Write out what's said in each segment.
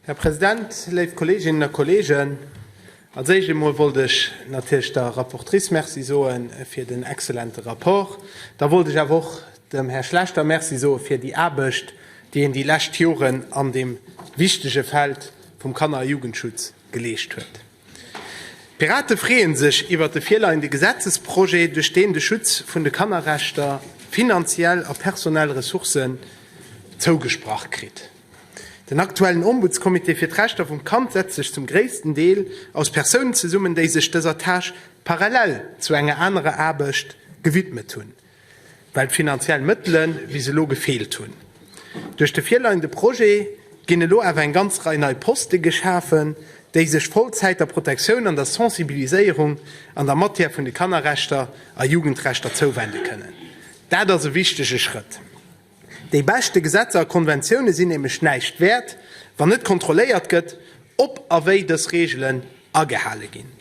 Här President, léif Kolleeginnen a Kolleegen, als Éischt emol wollt ech natierlech der Rapportrice Merci soe fir den excellente Rapport. Da wollt ech awer och dem Här Schlechter Merci soe fir déi Aarbecht, déi en déi lescht Joren an deem wichtege Feld vum Kanner a Jugendschutz geleescht huet. D'Pirate freeën sech iwwert de virleiende Gesetzesprojet, duerch deen de Schutz vun de Kannerrechter finanziell a personell Ressourcen zougesprach kritt. Den aktuellen Ombudscomité fir d'Rechter vum Kand setzt sech zum gréissten Deel aus Persounen zesummen, déi sech dëser Tâche parallel zu enger anerer Aarbecht gewidmet hunn. well d'finanziell Mëttele bis elo gefeelt hunn. Duerch de virleiende Projet ginn elo awer eng ganz Rei nei Poste geschafen, déi sech Vollzäit der Protektioun an der Sensibiliséierung an der Matière vun de Kannerrechter a Jugendrechter zouwende kënnen. Dat ass e wichtege Schrëtt. Déi beschte Gesetzer a Konventioune sinn nämlech näischt wäert, wann net kontrolléiert gëtt, ob a wéi dës Reegelen agehale ginn.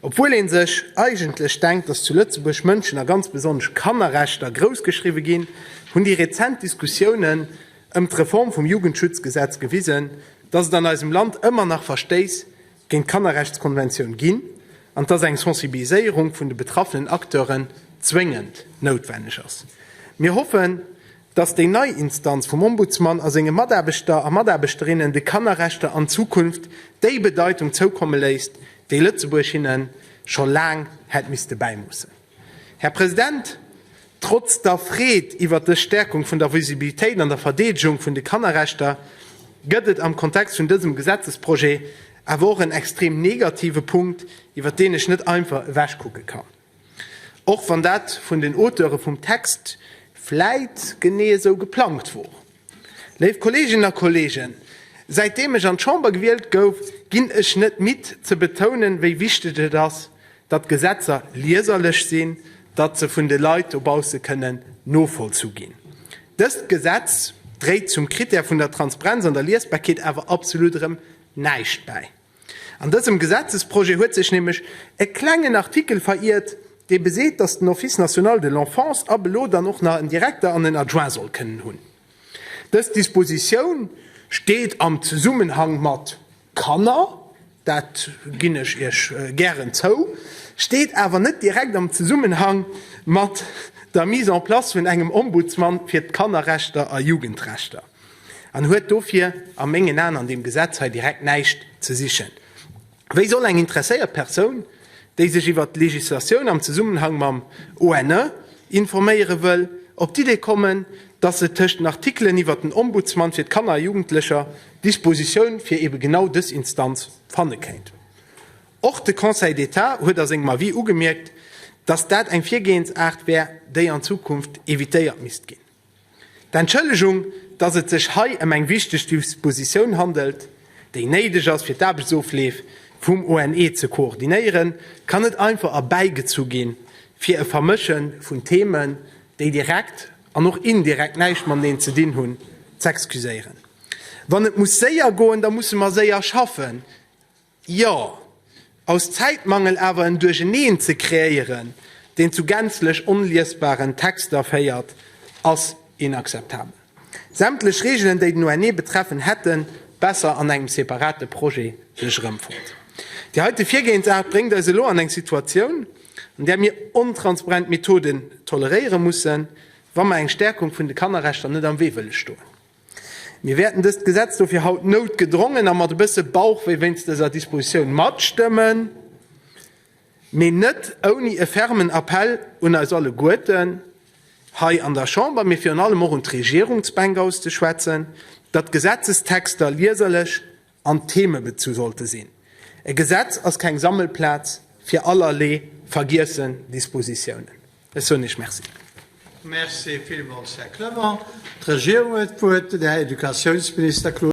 Obwuel ee sech eigentlech denkt, datt zu Lëtzebuerg Mënschen a ganz besonnesch Kannerrechter groussgeschriwwe ginn, hunn déi rezent Diskussiounen ëm d'Reform vum Jugendschutzgesetz gewisen, datt et an eisem Land ëmmer nach Verstéiss géint d'Kannerrechtskonventioun ginn an dass eng Sensibiliséierung vun de betraffenen Acteuren zwéngend noutwenneg ass. Mir hoffen, dass déi nei Instanz vum Ombudsman a senge Mataarbechter a Mataarbechterinnen de Kannerrechter an Zukunft déi Bedeitung zoukomme léisst, déi Lëtzebuerg hinne scho laang hätt misste bäimussen. Här President, trotz der Freed iwwert dës Stärkung vun der Visibilitéit an der Verdeedegung vun de Kannerrechter gëtt et am Kontext vun dësem Gesetzesprojet awer och en extrem negative Punkt, iwwert deen ech net einfach ewechkucke kann, och wann dat vun den Auteure vum Text vläit genee esou geplangt wor. Léif Kolleeginnen a Kolleegen, säitdeem ech an d'Chamber gewielt gouf, ginn ech net midd ze betounen, wéi wichteg et ass, datt d'Gesetzer lieserlech sinn, datt se vun de Leit dobausse kënnen novollzu ginn. Dëst Gesetz dréit zum Krittär vun der Transprenz an der Liesbarkeet awer absolut erëm näischt bäi. An dësem Gesetzesprojet huet sech nämlech e klengen Artikel veriert, dee beseet, dass den Office national de l'enfance ab elo dann och nach en Direkter an en Adjoint soll kënnen hunn. Dës Dispositioun steet am Zesummenhang mat Kanner, dat ginn ech Iech gären zou, steet awer net direkt am Zesummenhang mat der Mise en place vun engem Ombudsmann fir d'Kannerrechter a Jugendrechter. an huet dofir a mengen Aen an deem Gesetz hei direkt näischt ze sichen. Wéi soll eng interesséiert Persoun, déi sech iwwert d'Legislatioun am Zesummenhang mam ONE informéiere wëll, op d'Idee kommen, dass se tëscht den Artikelen iwwert den Ombudsman fir d'Kanner a Jugendlecher Dispositioun fir ebe genau dës Instanz fanne kéint? Och de Conseil d'État huet a sengem Avis ugemierkt, dass dat eng Virgehensaart wär, déi an Zukunft evitéiert misst ginn. D'Entschëllegung, dass et sech hei ëm eng wichteg Dispositioun handelt, déi néideg ass, fir d'Aarbechtsofleef vum ONE ze koordinéieren, kann net einfach erbäigezu ginn, fir e Vermësche vun Themen, déi direkt an och indirekt näischt mateneen ze dinn hunn, z'excuséieren. Wann et muss séier goen, da musse mer séier schaffen. Jo, aus Zäitmangel awer en Duercheneen ze kreéieren, deen zu gänzlech onliesbaren Texter féiert, ass inakzeptabel. Sämtlech Reegelen, déi den ONE betreffen, hätten besser an engem separate Projet sech erëmfonnt. Déi heite Virgehensart bréngt eis elo an eng Situatioun, an där mir ontransparent Methoden toleréiere mussen, wa mer eng Stärkung vun de Kannerrechter net am Wee wëlle stoen. Mir wäerten dëst Gesetz dofir haut noutgedrongen a mat e bësse Bauchwéi wéinst dëser Dispositioun matstëmmen, mee net ouni e fermen Appell un eis alleguerten hei an der Chamber, mee virun allem och un d'Regierungsbänk auszeschwätzen, datt d'Gesetzestexter lieserlech an Theme bezu sollte sinn. E Gesetz ass keng Sammelplaz fir allerlee vergiessen Dispositiounen. Ech soen Iech Merci. Merci villmools, Här Clement. D'Regierung huet d'Wuert, den Här Educatiounsminister Claude Meisch.